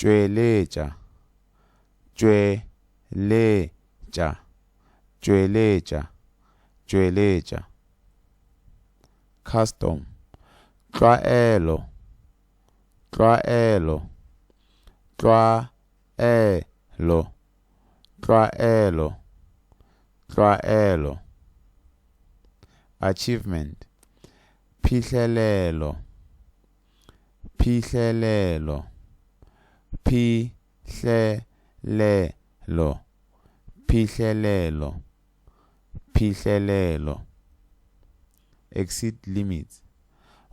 tšweletša, tšweletša, tšweletša, tšweletša. Custom, tlwaelo, tlwaelo, tlwaelo, tlwaelo, tlwaelo. Achievement, phihlelelo. Phihlelelo Phihlelelo Phihlelelo Phihlelelo Exceed limits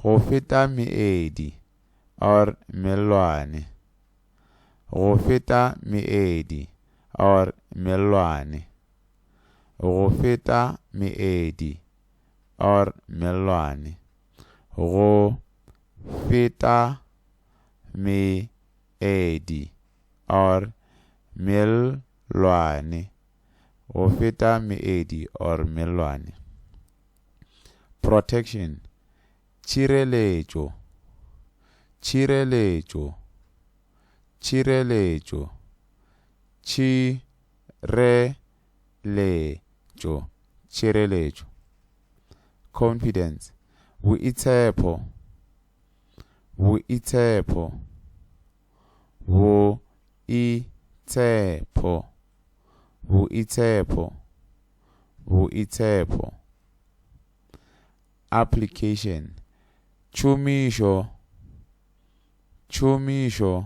Go feta meedi or mellwane Go feta meedi or mellwane Go feta meedi or mellwane go feta meedi or mellwane go feta meedi or mellwane protection tšhireletšo tšhireletšo tšhireletšo tšhireletšo le tšo tšireletšo, confidence, boitshepho, boitshepho, boitshepho, boitshepho, boitshepho, application, tšhomišo, tšhomišo.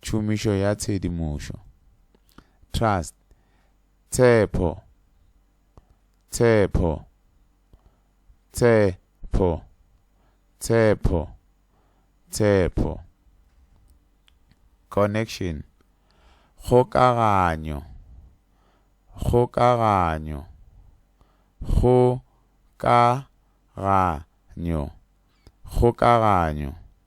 Tšhomišo ya tshedimošo. Trust, tshepho, tshepho, tshepho, tshepho, tshepho. Connection, kgokaganyo, kgokaganyo, kgokaganyo, kgokaganyo.